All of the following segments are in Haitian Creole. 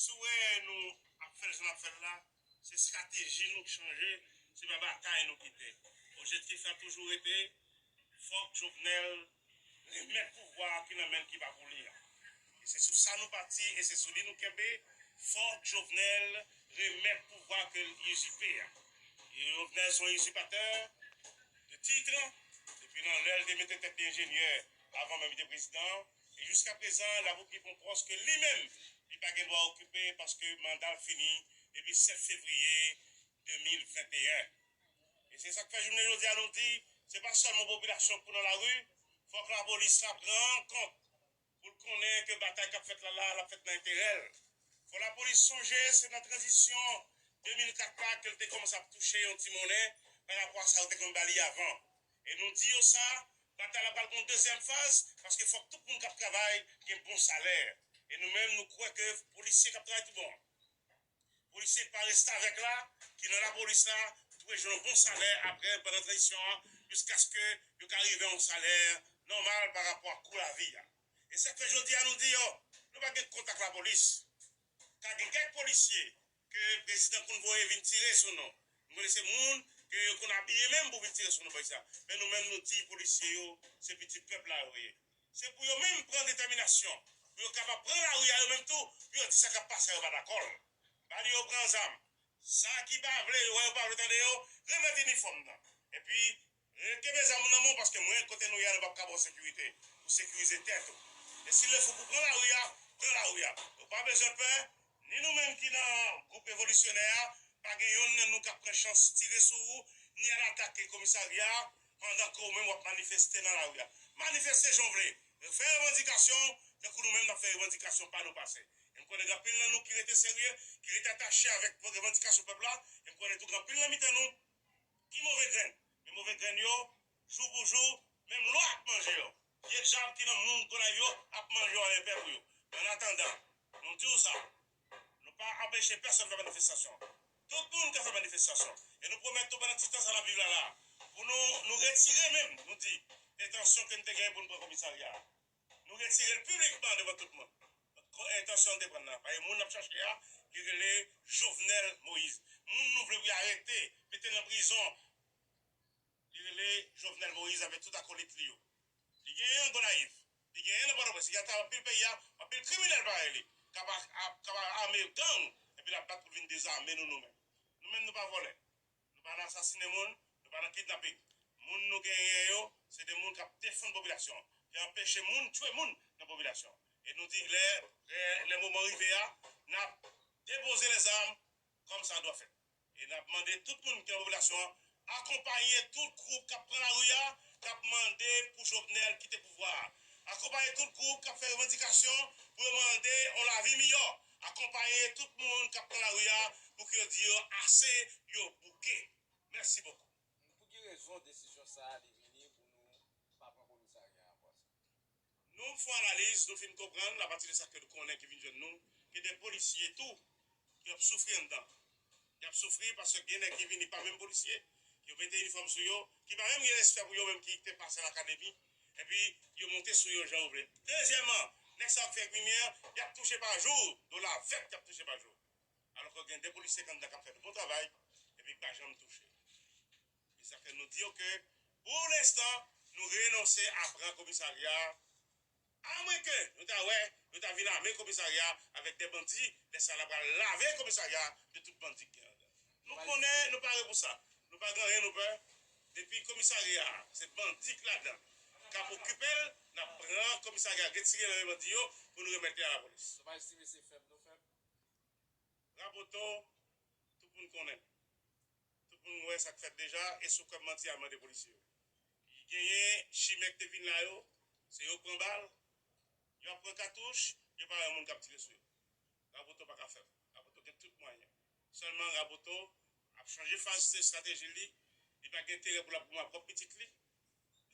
Si w wè nou ap fè l jan n ap fè l la, se estrateji nou k chanje, se pa batay nou kite. Objektif la toujou rete, fòk Jovenel remèt pouvwa a ki nan men l ki pa pou li a. E se sou sa nou pati e se sou li nou kenbe, fòk Jovenel remèt pouvwa ke l izipe a. Jovenel se yon izipatè de titre, depi nan lè l te mete tèt li enjenyè avan menm li te prezidan. E jiska prezan la Vopni pran pòs ke li menm li pa gen dwa okipe paske manda l fini depi 7 fevriye 2021. E se sak fè jounen jodi a nou di se pa sèlman popilasyon k pou nan lari, fòk lapolis la pran kont pou l konnen ke batay k ap fèt la la, l ap fèt nan enterè l. Fò lapolis sonje se nan tranzisyon 2004 la ke l te kòmanse ap touche yon ti monnen parapò a sa yo te konn ba li avan. E nou di yo sa, batay la pral gen yon dezyèm faz, paske fòk tout moun k ap travay gen bon salè. E nou menm nou kwè ke polisye k ap travay tou bon, polisye ki pa restavèk la, ki nan lapolis la, dwe jwenn yon bon salè apre pandan tranzisyon an, jiskaske yo ka rive yon salè nòmal pa rapò ak kou lavi a. E sa k fè jodi a nou di yo, nou pa gen kont ak lapolis. Ka gen kèk polisye Ke prezidan konn voye vin tire sou nou. Nou konnen se moun ke yo konn abiye menm pou vin tire sou nou podyab. Men nou menm nou di polisye yo se pitit pèp la yo ye. Se pou yo menm pran detèminasyon pou yo kapab pran lari a yo menm tou pou yo di sa kap pase a yo pa dakò l. Ba li yo pran zam. Sa ki pa vle yo wè yo pa vle tande yo, remèt inifòm nan. Epi Kenbe zam ou nan men w paske mwen kote nou ye a nou pap ka ba w sekirite pou sekirize tèt ou. E si l lè fou pou pran lari a, pran lari a. Nou pa bezwen pè, ni nou menm ki nan gwoup revolisyonè a, pa gen yonn nan nou k ap pran chans tire sou ou, ni al atake komisarya a pandan ke ou menm w ap manifeste nan lari a. Manifeste jan w vle, fè revandikasyon w tankou nou menm n ap fè revandikasyon pa nou pase. E m konnen gen anpil nan nou ki rete serye, ki rete atache avèk revandikasyon pèp la, e m konnen tou gen anpil nan mitan nou, Ki move grenn? Men move grenn yo, jou pou jou, menm lwa ap manje yo. Vye djab ki nan moun Gonayiv yo ap manje yo anrepè pou yo. Annatandan, nou di w sa, nou pa anpeche pèsonn fè manifestasyon. Tout moun ka fè manifestasyon. E nou pwomèt tou pandan ti tan sa n ap viv la la a, pou nou retire menm, nou di, entansyon ke n te genyen pou n pran komisarya a. Nou retire l piblikman devan tout moun. Kon entansyon l te pran nan. Paske moun n ap chache a, li rele Jovenel Moïse. Moun nou vle pou y arete, mete nan prizon, li rele Jovenel Moïse avèk tout akolit li yo. Li genyen an Gonayiv. Li genyen nan Pòtoprens. Li gen atravè anpil peyi a. Anpil kriminèl parèy li k ap ame gang epi l ap bat pou l vin dezame nou nou menm. Nou menm nou pa vòlè. Nou pa nan asasine moun, nou pa nan kidnapping. Moun nou genyen yo, se de moun kap defann popilasyon an, ki anpeche moun tchwe moun nan popilasyon an. E nou di lè, lè moman rive a, nap depoze lè zam kòm sa dwa fèt. E nap mande tout moun ki nan popilasyon an, akonpaye tout gwoup kap pran lari a, kap mande pou Jovenel kite pouvwa a. Akonpaye tout gwoup kap fè revandikasyon pou yo mande yon lavi miyò. Akonpaye tout moun kap nan lari a pou ke yo di yo ase, yo bouke. Mèsi bokou. Pou ki rezon desizyon sa a li vini pou nou pa pran komisarya a pwasa? Nou fon analiz, nou fin konprann apati de sa ke nou konnen ki vin jwenn nou, ke de polisye tou ki ap soufri anndan. Yap soufri paske gen nèg ki vini pa menm polisye, yo mete inifòm sou yo, ki pa menm gen respè pou yo menm ki te pase lakademi, epi yo monte sou yo jan yo vle. Dezyèman, nèg sa yo ki fè krimyè, yap touche pa jou, dola vèt yap touche pa jou. Alò ke gen de polisye kanndan kap fè de bon travay, epi ki pa janm touche. Se sa ke nou di yo ke pou lenstan, nou renonse a pran komisarya A mwen ke nou ta wè yo ta vin ame komisarya avèk de bandi lè sa la pral lave komisarya de tout bandi ki gen ladan nou konnen nou pare pou sa nou pa gen anyen nou pè depi komisarya a se bandi ki ladan kap okipel nap pran komisarya retire nan men bandi yo pou nou remèt li a lapolis. Nou pa estime se fèb nou fèb? Raboto tout moun konnen. Tout moun wè sa k fèt deja e sou kòm manti a mande polisye yo. Li genyen chimè k te vin la yo, se yo k pran bal, yo ap pran katouch, yo pa wè moun k ap tire sou yo. Raboto pa ka fèb. Raboto gen tout mwayen. Sèlman Raboto ap chanje faz se estrateji l li. Li pa gen enterè pou l ap goumen ak pwòp pitit li.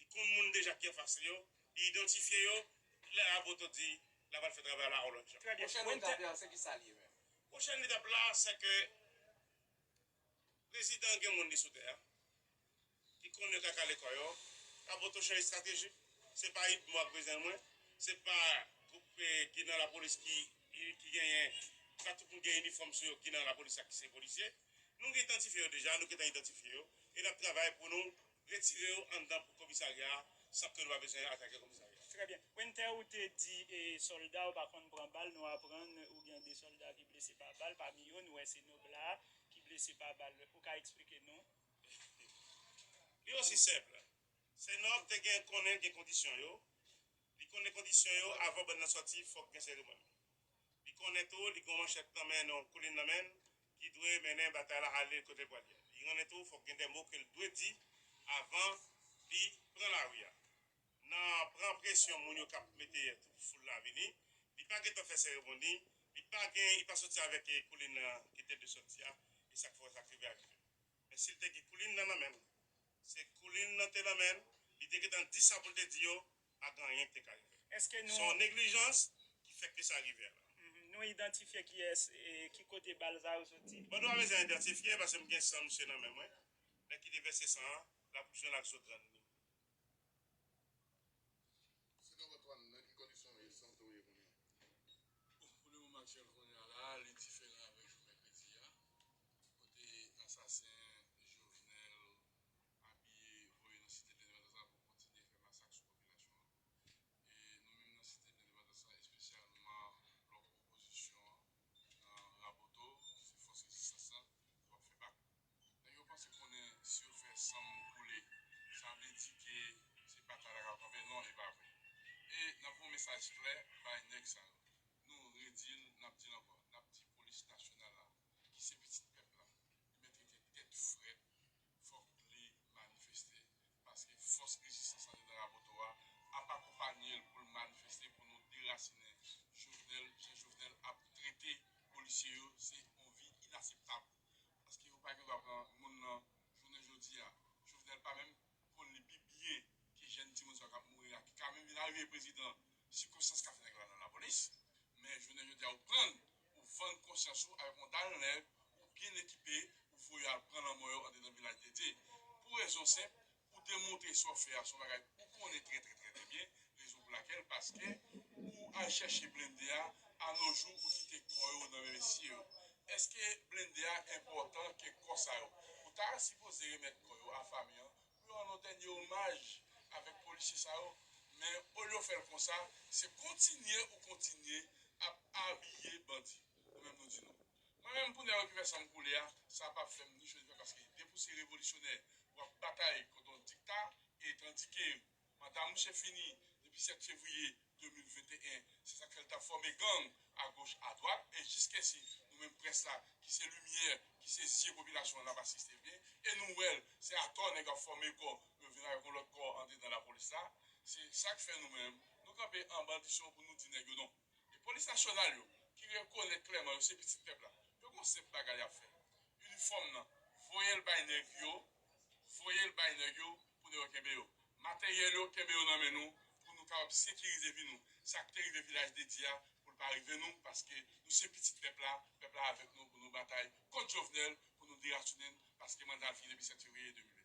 Li konn moun deja ki anfas li yo. Li idantifye yo. Lè Raboto di l apral fè travay la on lòt jan. Pwochèn etap la se ki sa l ye menm? Pwochèn etap la se ke Prezidan gen moun li sou tè a ki konnen kaka lekòl yo rabotochè estrateji se pa idmo ak prezidan mwen se pa gwoup ki nan lapolis ki genyen se pa tout moun gen inifòm sou yo ki nan lapolis ak ki se polisye nou gen idantifye yo deja nou gentan idantifye yo e nap travay pou nou Retire yo anndan pou komisarya a san ke nou pa bezwen atake komisarya a. Trè byen. Winter ou te di solda ou pa konn pran bal, nou aprann ou gen 2 solda ki blese pa bal, pami yo nou wè se Nobla a ki blese pa bal, ou ka eksplike nou? Li osi senp, se Nob te gen konnen gen kondisyon yo, li konnen kondisyon yo avan bann nan sòti fòk gen seremoni. Li konnen tou li gen yon manchèt nan men, yon koulin nan men, ki dwe mennen batay la ale kote l pral ye. Li konnen tou fòk gen de mo ke l dwe di avan li pran lari a. Nan pran presyon moun yo k ap mete tout foul la vini, li pa gentan fè seremoni, li pa gen, li pa soti avèk koulin nan ki te dwe soti a, e sa k fè w wè sa k rive a rive. Men si l te gen koulin nan nan men l, Se koulin nan te nan men l, li te gentan di sa pou l te di yo, pa gen anyen ki te ka rive l. Eske nou. Se yon neglijans ki fè ke sa rive la. Nou idantifye kiyès e ki kote bal sa yo soti? Mwen pa bezwen idantifye paske m gen san misye nan men mwen. Nèg ki te vèse san an, l ap jwenn ak zo grann li. Sinon Antoine nan ki kondisyon e sante w ye kounya? Bon pou le moman aktyèl kounya la li diferan avèk jou mèkredi a kote asasen Jovenel abiye voye nan site lendepandans la pou kontinye fè masak sou popilasyon an e nou menm nan site lendepandans la espesyalman blòk opozisyon an nan Raboto se fòs rezistans lan nou ap fè bak. Nèg yo panse konnen si yo fè san moun koule sa vle di ke se batay la kap kanpe non e pa vre e nap voye yon mesaj klè bay nèg sa yo nou redil nap dil ankò nap di polis nasyonal la ki se pitit pèp la li mèt rete tèt frèt fòk li manifeste paske fòs rezistans la te nan Raboto a ap akonpanyel poul manifeste pou nou derasinen Jovenel jan Jovenel ap trete polisye yo se yon vi inaseptab. paske yo pa gen dwa pran moun lan jounen jodi a Jovenel pa menm konn li pi byen ke jèn timoun sa yo kap mouri a ki ka menm vin arive prezidan sikonstans ka fè nèg la nan lapolis men jounen jodi a ou prann ou vann konsyans ou avèk yon dal nèg ou byen ekipe ou voye yo al pran lanmò yo andedan vilaj dete pou rezon senp Ou demontre sa w fè a se yon bagay ou konnen trè trè trè trè byen, rezon pou lakèl paske ou al chèche blende a alonjou ou kite kò yo nan men mesye yo. Eske blende a enpòtan ke kò sa yo? Ou ta sipoze remèt kò yo a fanmi an pou yo rann w dènye omaj avèk polisye sa yo men olye w fè l konsa se kontinye ou kontinye ap abiye bandi. Nou menm nou di nou. Mwen menm pou nèg yo ki fè sanm koule a, sa pap fèm ni cho ni frèt paske depi w se revolisyonè wap batay kont yon dikta e tandike manda mouche fini depi 7 fevriye 2021 se sak fèl tap fòme gang a goch a dwat e jiskesi nou menm près la ki se limyè ki se zye popilasyon an nap asiste byen e nou wèl se atò nèg ap fòme kò pou yo vin avèk yon lòt kò andedan lapolis la se sak fè nou menm nou kanpe an bandisyon pou nou di nèg yo non. E polis nasyonal yo ki rekonèt klèman yo se pitit pèp la yo gon senp bagay yap fè inifòm nan voyel bay nèg yo voyel bay nèg yo pou nèg yo kenbe yo materyèl yo kenbe yo nan men nou pou nou kapab sekirize vi nou sak te rive vilaj dedye a poul pa rive nou paske nou se pitit pèp la pèp la avèk nou pou nou batay kont jovenel pou nou derasinenn paske mandal fini depi 7 fevriye 2021.